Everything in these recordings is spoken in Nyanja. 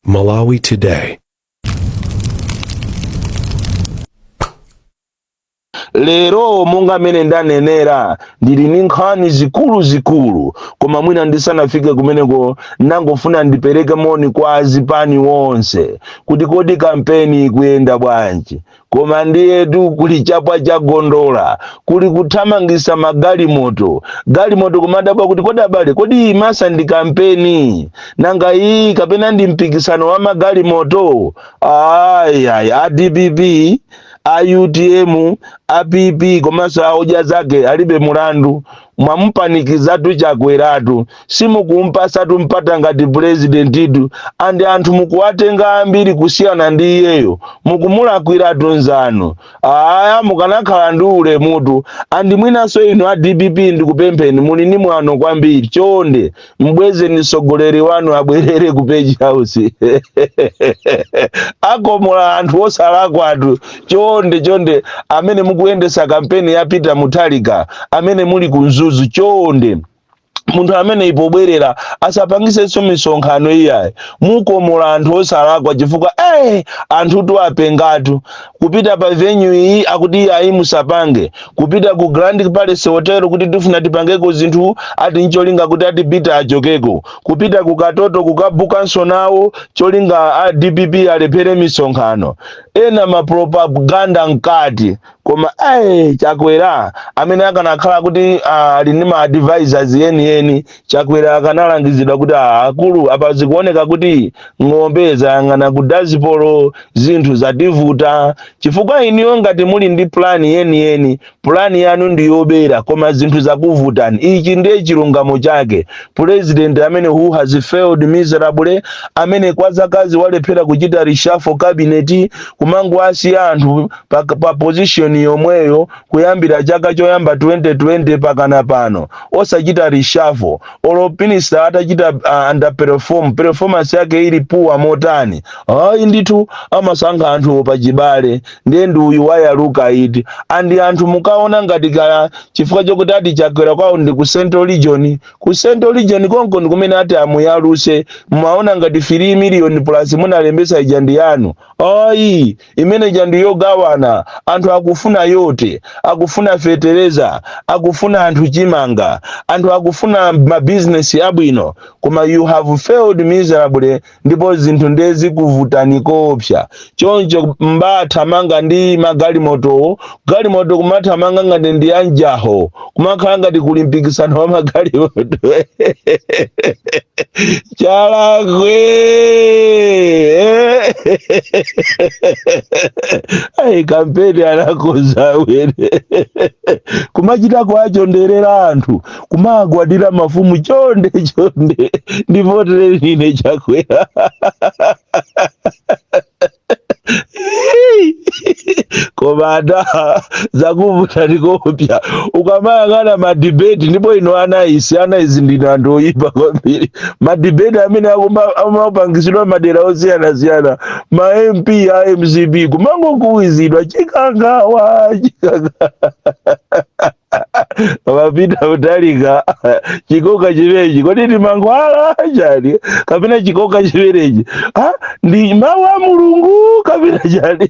Malawi Today. lero monga mmene ndanenera ndili ndi nkhani zikuluzikulu koma mwina ndisanafike kumeneko ndangofuna ndipereke moni kwa azipani onse kuti kodi kampeni ikuyenda bwanji Koma ndiyetu kuli chapwa cha gondola, kuli kuthamangisa magalimoto, galimoto kumadabwa kuti kodi abale, kodi iyi masa ndi kampeni nanga iyi kapena ndi mpikisano wa magalimoto? Ayi, ayi, a dpp, a utm, a PP komanso a odya zake alibe mulandu. mwamupanikizatu chakweratu simukumpasatu mpata ngati pulezidentitu andi anthu mukuwatenga ambiri kusiyana ndi iyeyo mukumulakwiratu nzanu aya mukanakhala ndi ulemutu andi mwinanso inu a dpp ndikupempheni muli ni mwano kwambiri chonde mbwezeni mtsogoleri wanu abwerere ku page house akomola anthu osalakwatu chonde chonde amene mukuyendesa kampeni ya peter mutharika amene muli ku mzuzu chonde munthu ameneyi pobwerera asapangisenso misonkhano iyayi mukomola anthu osalakwa chifukwa eh anthutu apengatu kupita pa venue iyi akuti iyayi musapange kupita ku grand palace hotel kuti tifuna tipangeko zinthu ati ncholinga kuti ati peter achokeko kupita ku katoto kukabukanso nawo cholinga a dpp alephere misonkhano ena mapropaganda mkati koma ayi chakwera amene akanakhala kuti ah, ali ndi ma advisors yeniyeni Chakwera akanalangizidwa kuti "Ah, akulu apa zikuoneka kuti ng'ombe zayang'ana ku dazipolo zinthu zativuta chifukwa inuyo ngati muli ndi pulani yeniyeni pulani yanu ndi yobera koma zinthu zakuvutani ichi ndiye chilungamo chake pulezidenti amene who has failed miserably amene kwa zakazi walephera kuchita reshuffle cabinet kumangowasiya anthu pa, pa position yomweyo kuyambira chaka choyamba 2020 mpakana pano osachita reshuffle olo minister atachita uh, underperform performance yake ili puwa motani ayi ndithu amasankha anthu pachibale ndiye ndi uyu wayaluka iti andi anthu mukaona ngati kaya chifukwa chokuti ati chakwera kwawo ndi ku central region ku central region konko ndi kumene ati amuyaluse mumaona ngati 3 million plus munalembesa ija ndi yanu ayi imene ija ndi yogawana anthu akufuna yote akufuna fetereza akufuna anthu chimanga anthu akufuna mabizinesi abwino koma you have failed miserably ndipo zinthu ndiye zakuvutani koopsa choncho mbathamanga ndi magalimotowo galimoto kumathamanga ngati ndi ya njaho kumakhala ngati kuli mpikisano wa magalimoto chalakwe ayi kampeni anakoza wene kumachita kuwachonderera anthu kumagwadira mafumu chonde chonde ndivotere nine chakwera koma mada zakuvuta ndikopya ukamayang'ana madibeti ndipo ino ana isi ana izi ndino anthu oyipa kwambiri madibeti amene akuma- amapangitsidwa madera osiyanasiyana ma mp a mcp kumangokuwizidwa chikangawa chikangawa wa pita mutalika chikoka chimenechi kodi ndi mankhwala chani kapena chikoka chimenechi Ah, ndi mawu a mulungu kapena chani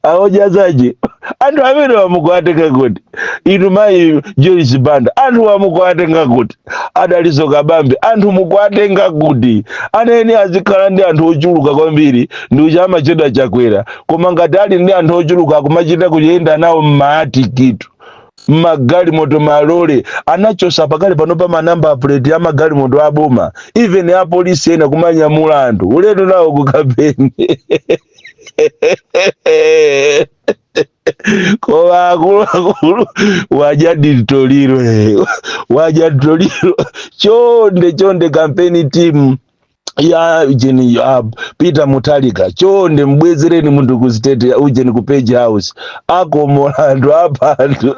a odya zake anthu amene mukuwatenga kuti inu mayi joyce banda anthu mukuwatenga kuti a dalitso kabambe anthu mukuwatenga kuti ayeni azikhala ndi anthu ochuluka kwambiri ndi uja amatchedwa chakwera koma ngati ali ndi anthu ochuluka akumachita kuyenda nawo mmaatiki tu mmagalimoto malole anachotsa pakali pano pa manamba puleti a magalimoto aboma even apolisi ena kumanyamula anthu ulendo nawo ku kampeni koma akuluakulu waja nditoliro eh. waja nditoliro chonde chonde kampeni timu ya ujeni ya peter mutalika chonde mbwezereni munthu ku state ya ujeni ku page house wakomola anthu wapha anthu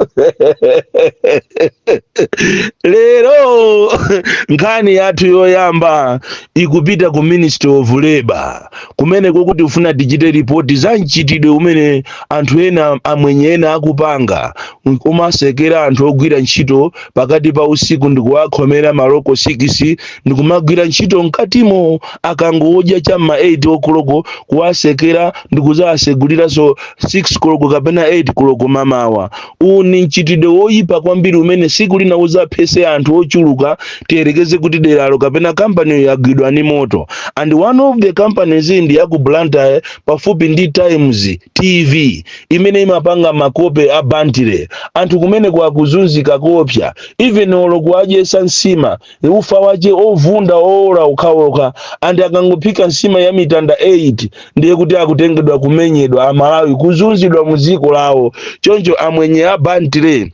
lero nkhani yathu yoyamba ikupita ku ministry of labor kumeneko tikufuna tichite ripoti za mchitidwe umene anthu ena amwenye ena akupanga kumatsekera anthu ogwira ntchito pakati pa usiku ndikuwakhomera maloko sikisi ndikumagwira ntchito mkatimo akangodya cha mma 8 okoloko kuwatsekera ndikuzawatseguliranso 6 koloko kapena 8 koloko mamawa Uwu ni mchitidwe woipa kwambiri umene tsiku lina udzaphetsa anthu ochuluka tiyerekeze kuti deralo kapena kampaniyo yagwidwa ni moto. And one of the companies ndi ya ku Blantyre pafupi ndi Times TV imene imapanga makope a Bantle. Anthu kumeneko akuzunzika koopsa even olo kuwadyetsa nsima e, ufa wache ovunda owola okhaokha and akangophika nsima ya mitanda 8 ndiye kuti akutengedwa kumenyedwa amalawi kuzunzidwa mu dziko lawo choncho amwenye a Bentley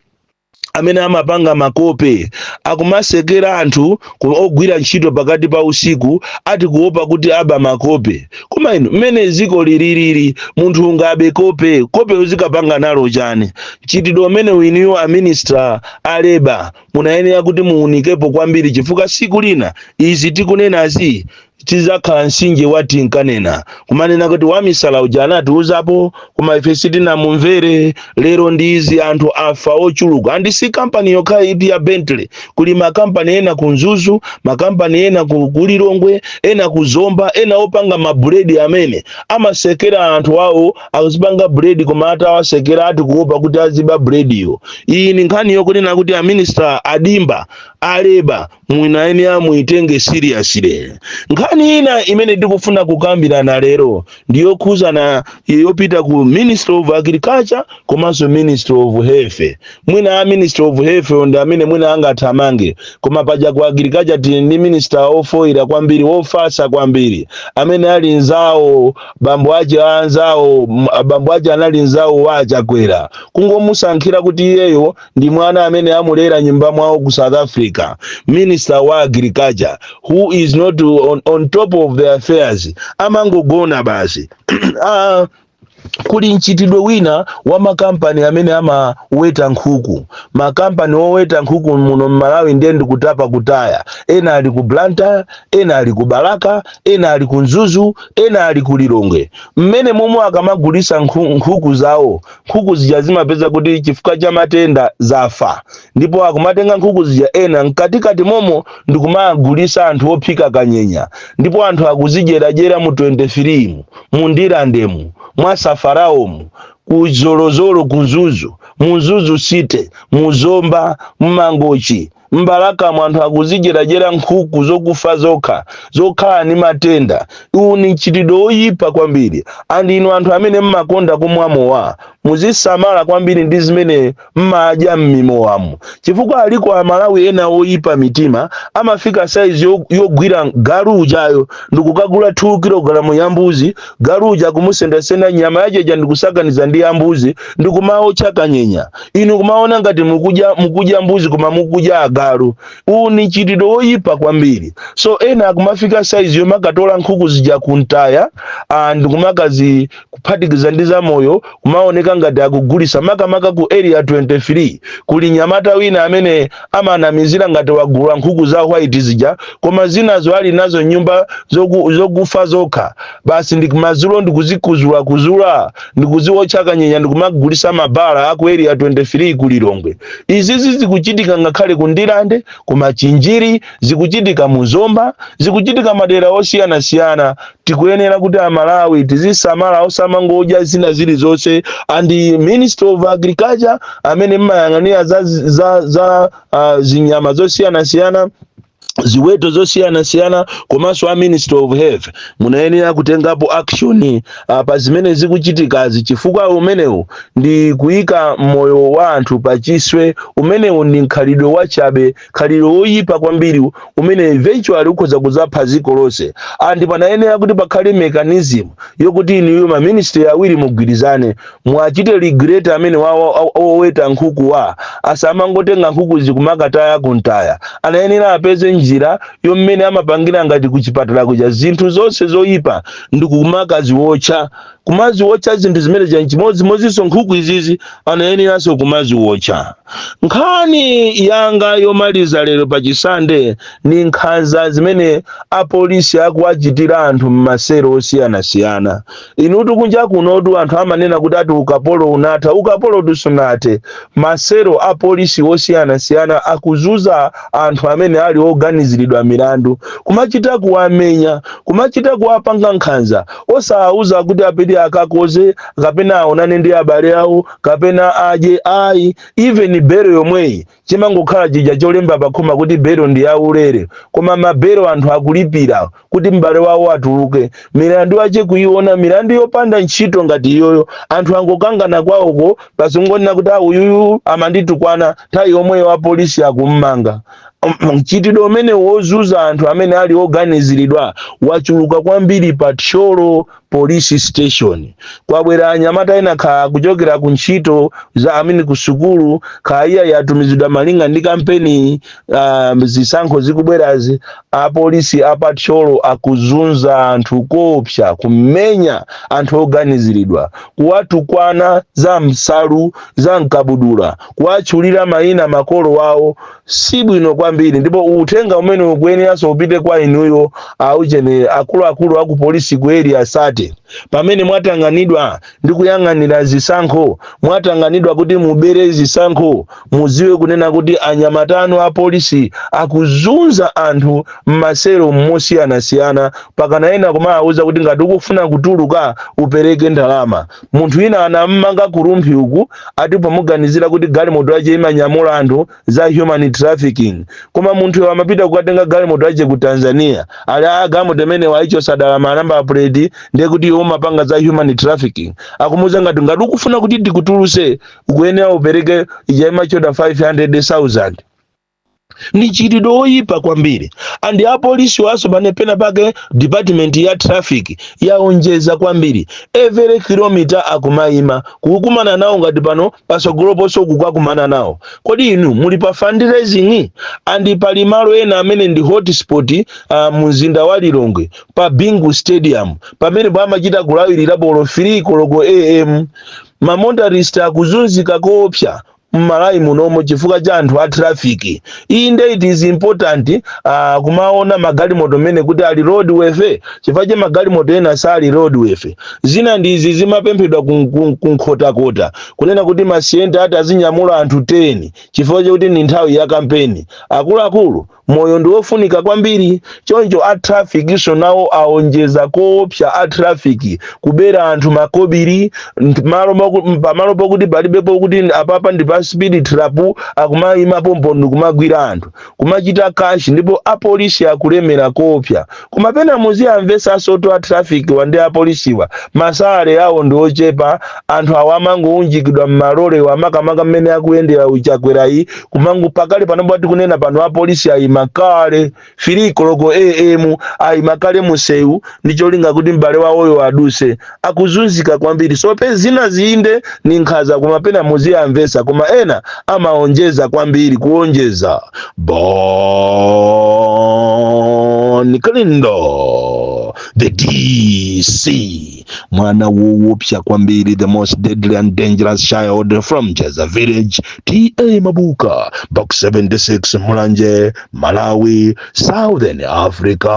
amene amapanga makope akumatsekera anthu ku- ogwira ntchito pakati pa usiku ati kuopa kuti aba makope koma inu mmene dziko lililili munthu ungabe kope kope uzikapanga nalo chani mchitidwe umene uwu inuyo a minister a labour munayenera kuti muunikepo kwambiri chifukwa siku lina izi tikunenazi zizakhala nsinje wa tinkanena kumanena kuti wamisala uja anatiuzapo koma ife sitinamumvere lero ndi izi anthu afa ochuluka and si kampani yokha iyi ya bentley kuli makampani ena ku mzuzu makampani ena ku ku lilongwe ena ku zomba ena opanga mabuledi amene amatsekera anthu awo akuzipanga bread koma atawatsekera ati kuopa kuti aziba breadiyo iyi ni nkhani yokunena kuti a minister a Dimba a labour munayenera muyitenge seriously nkhani ina imene tikufuna kukambirana lero ndiyokhuzana yopita ku ministry of agriculture komanso ministry of health mwina a ministry of health ndi amene mwina angathamange koma paja ku agriculture tili ndi minister wofoyira kwambiri wofasa kwambiri amene ali nzawo bambo ache a anzawo m- bambo ache anali nzawo wa achakwera kungomusankhira kuti iyeyo ndi mwana amene amulera nyumba mwawo ku south africa minister wa agriculture who is not on, on top of the affairs amangogona basi ah, Kuli mchitidwe wina wa makampani amene amaweta nkhuku. Makampani oweta nkhuku muno m'Malawi ndiye ndi kutapa kutaya. Ena ali ku Blantyre, ena ali ku Balaka, ena ali ku Mzuzu, ena ali ku Lilongwe. Mmene momwe akamagulitsa nkhuku zawo, nkhuku zija zimapeza kuti chifukwa cha matenda zafa. ndipo akumatenga nkhuku zija ena mkatikati momo ndikumagulisa anthu ophika kanyenya ndipo anthu akuzidyeradyera mu 23 mu Ndirandemu mwa safaraomu ku zolozolo ku Mzuzu mu Mzuzu city mu zomba mmangochi mbalakamu anthu akuzidyeradyera nkhuku zokufa zokha zokhala ndi matenda uwu ni mchitidwe woyipa kwambiri and inu anthu amene mmakonda kumwa mowa muzisamala kwambiri ndi zimene mmadya m'mimowamu chifukwa aliko amalawi ena oyipa mitima amafika saizi yo- yogwira galu uja iyo ndikukagula 2 kilogalamu ya mbuzi galu uja kumusendasenda nyama yache ija ndikusakaniza ndi ya mbuzi ndikumaotcha kanyenya inu kumaona ngati mukudya mukudya mbuzi koma mukudya agalu uwu ni mchitidwe woyipa kwambiri so ena akumafika saizi yomakatola nkhuku zija kumtaya ah, ndikumakazi kuphatikiza ndi zamoyo kumaoneka ngati akugulitsa makamaka ku area 23 kuli nyamata wina amene amanamizira ngati wagula nkhuku za white zija koma zinazo ali nazo nyumba zokufa zokha basi ndiye madzulo ndikuzikuzula kuzula ndikuziwotcha kanyenya ndikumagulitsa m'mabala a ku area 23 ku lilongwe izizi zikuchitika ngakhale ku ndirande ku machinjiri zikuchitika mu zomba zikuchitika madera osiyanasiyana tikuyenera kuti amalawi tizisamala osamangodya zina zilizonse and a ministry of agriculture amene mmayang'anira za, za, za uh, zinyama zosiyanasiyana ziweto zosiyanasiyana komanso a ministry of health munayenera kutengapo action uh, pa zimene zikuchitikazi chifukwa umenewu ndi kuyika moyo wa anthu pa chiswe umenewu ndi mkhalidwe wachabe khalidwe woyipa kwambiri umene eventually ukhoza kuzapha dziko lonse and panayenera kuti pakhale mechanism yokuti inuyo ma ministry awiri mugwirizane muwachite regulate amene oweta nkhukuwa asamangotenga nkhuku ndikumakataya kumtaya anayenera apeze njira yommene amapangira ngati kuchipatala kuja zinthu zonse zoyipa ndikumakaziwotcha kumaziwotcha zinthu zimene zija nchimodzimodzinso nkhuku izizi anayeneranso kumaziwotcha nkhani yanga yomaliza lero pa chisande ndi nkhanza zimene apolisi akuwachitira anthu m'maselo osiyanasiyana inutu kunja kunotu anthu amanena kuti ati ukapolo unatha ukapolo tu sunathe m'maselo a polisi osiyanasiyana akuzunza anthu amene ali oganiziridwa milandu kumachita kuwamenya kumachita kuwapanga nkhanza Osawauza kuti apite akakoze kapena aonane ndi abale awo kapena adye ayi. Even belo yomweyi imangokhala chija cholemba pakhoma kuti belo ndi yaulere. Koma mabelo anthu akulipira kuti m'bale wawo atuluke. Milandu yache kuiona, milandu yopanda ntchito ngati iyoyo. Anthu angokangana kwawoko basi kungonena kuti ah uyuyu amanditukwana, nthawi yomweyo apolisi akummanga. mchitidwe umenewo ozunza anthu amene ali oganiziridwa wachuluka kwambiri pa thyolo police station kwabwera anyamata ena kaya kuchokera ku ntchito za I mean ku sukulu kaya atumizidwa malinga ndi kampeni uh, zisankho zikubwerazi apolisi a pa thyolo akuzunza anthu koopsa kumenya anthu oganiziridwa kuwatukwana za m'nsalu za m'kabudula kuwatchulira mayina makolo awo si bwino kwambiri, ndipo uthenga umene ukuyeneranso upite kwa inuyo aujeni akuluakulu aku polisi ku area 30 pamene mwatanganidwa ndi kuyang'anira zisankho, mwatanganidwa kuti mubere zisankho, mudziwe kunena kuti anyamata anu a polisi akuzunza anthu m'maselo osiyanasiyana, pakana ena kumawauza kuti ngati ukufuna kutuluka upereke ndalama. Munthu wina anammanga ku Rumphi uku ati pomuganizira kuti galimoto yace imanyamula anthu za human trafficking koma munthuyo amapita kukatenga galimoto yace ku Tanzania ali aa galimoto imene waicotsa dala ma number plate ndiye kuti iwe umapanga za human trafficking akumuuza ngati ngati ukufuna kuti tikutuluse ukuyenera upereke ija imachedwa 500,000 ndi mchitidwe oyipa kwambiri and apolisiwanso pena pena pake department ya traffic yaonjeza kwambiri every kilometer akumayima kukumana nawo ngati pano pasogolo ponso ukukakumana nawo kodi inu muli pa fundraising and pali malo ena amene ndi hotspot uh, mumzinda wa lilongwe pa bingu stadium pamene pamachita kulawirira olo 3 koloko am ma motorist akuzunzika koopsa m'Malawi munomo chifukwa cha anthu a traffic inde it is important uh, kumaona magalimoto mmene kuti ali roadworthy chifukwa cha magalimoto ena sali roadworthy zina ndi zija zimapemphedwa kun- kun- ku Nkhotakota kunena kuti ma Sienta ati azinyamula anthu 10 chifukwa chakuti ndi nthawi ya kampeni akuluakulu Moyo ndi wofunika kwambiri, choncho a traffic-nso nawo aonjeza koopsa a traffic kubera anthu makobiri pamalo pokuti palibepo kuti apapa ndi pa speed trap akumaima pompo ndikumagwira anthu kumachita cash ndipo apolisi akulemera koopsa Koma pena muziwamvetsansotu a traffic wa ndi apolisiwa, ma salary awo ndi ochepa, anthu awa amangounjikidwa mmalolemu makamaka mmene akuyendera Chakwerayu, kumango pakali pano pomwe tikunena pano apolisi ayima kale, 3 koloko AM ayima kale munsewu ndi cholinga kuti m'bale wawoyo aduse. akuzunzika kwambiri so pe zinazi inde ni nkhaza koma pena muziwamvetsa koma ena amaonjeza kwambiri kuonjeza bon kalindo the dc mwana wowopsa kwambiri the most deadly and dangerous child from jeza village ta mabuka box 76 mulanje malawi southern africa